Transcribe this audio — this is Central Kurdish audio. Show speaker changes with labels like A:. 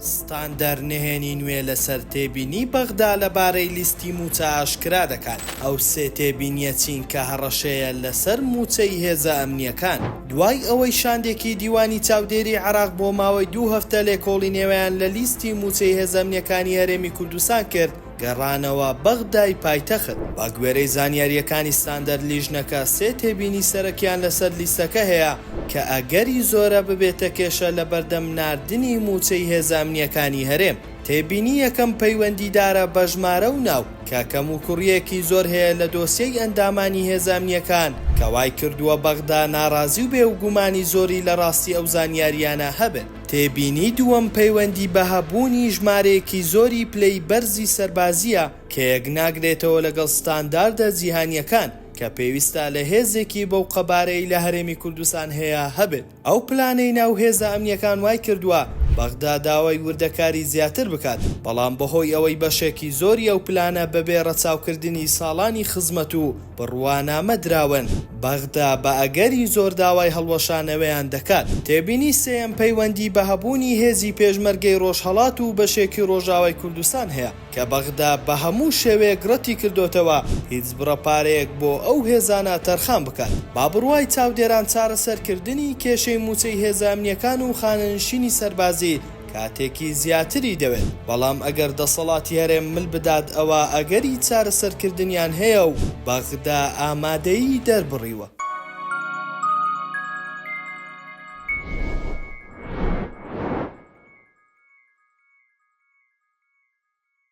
A: ستاندەر نهێنی نوێ لەسەر تێبینیی بەغدا لەبارەی لیستی مووچە ئاشکرا دەکات، ئەو سێ تێبینییە چین کە هەڕەشەیە لەسەر مووچەی هێزە ئەمنییەکان، دوای ئەوەی شاندێکی دیوانی چاودێری عێراق بۆ ماوەی دوو هەفتە لێکۆڵینەوەیان لە لیستی مووچەی هێزە ئەمنییەکانی هەرێمی کوردستان کرد، گەڕانەوە بەغدای پایتەخت. بەگوێرەی زانیارییەکانی ستاندەر لیژنەکە سێ تێبینی سەرەکیان لەسەر لیستەکە هەیە کە ئەگەری زۆرە ببێتە کێشە لەبەردەم ناردنی مووچەی هێزە ئەمنییەکانی هەرێم. تێبینی یەکەم پەیوەندیدارە بە ژمارە و ناو کە کەموکوڕییەکی زۆر هەیە لە دۆسیەی ئەندامانی هێزە ئەمنییەکان کە وایکردووە بەغدا ناڕازی و بێوگومانی زۆری لە ڕاستی ئەو زانیارییانە هەبێت. تێبینی دووەم پەیوەندی بە هەبوونی ژمارەیەکی زۆری پلەی بەرزی سەربازییە کە یەکناگرێتەوە لەگەڵ ستانداردە جیهانییەکان کە پێویستە لە هێزێکی بەو قەبارەی لە هەرێمی کوردستان هەیە هەبێت ئەو پلانەی ناو هێزە ئەمنییەکان وایکردووە بەغدا داوای وردەکاری زیاتر بکات بەڵام بەهۆی ئەوەی بەشێکی زۆری ئەو پلانە بەبێ ڕەچاوکردنی ساڵانی خزمەت و بڕوانامە دراون، بەغدا بە ئەگەری زۆر داوای هەڵوەشانەوەیان دەکات. تێبینی سێیەم پەیوەندی بە هەبوونی هێزی پێشمەرگەی ڕۆژهەڵات و بەشێکی ڕۆژاوای کوردستان هەیە، کە بەغدا بە هەموو شێوەیەک ڕەتی کردۆتەوە هیچ بڕە پارەیەک بۆ ئەو هێزانە تەرخان بکات. با بڕوای چاودێران چارەسەرکردنی کێشەی مووچەی هێزە ئەمنییەکان و خانەنشینی سەربازی، کاتێکی زیاتری دەوێت، بەڵام ئەگەر دەسەڵاتی هەرێم مل بدات ئەوا ئەگەری چارەسەرکردنیان هەیە و بەغدا ئامادەیی دەربڕیوە.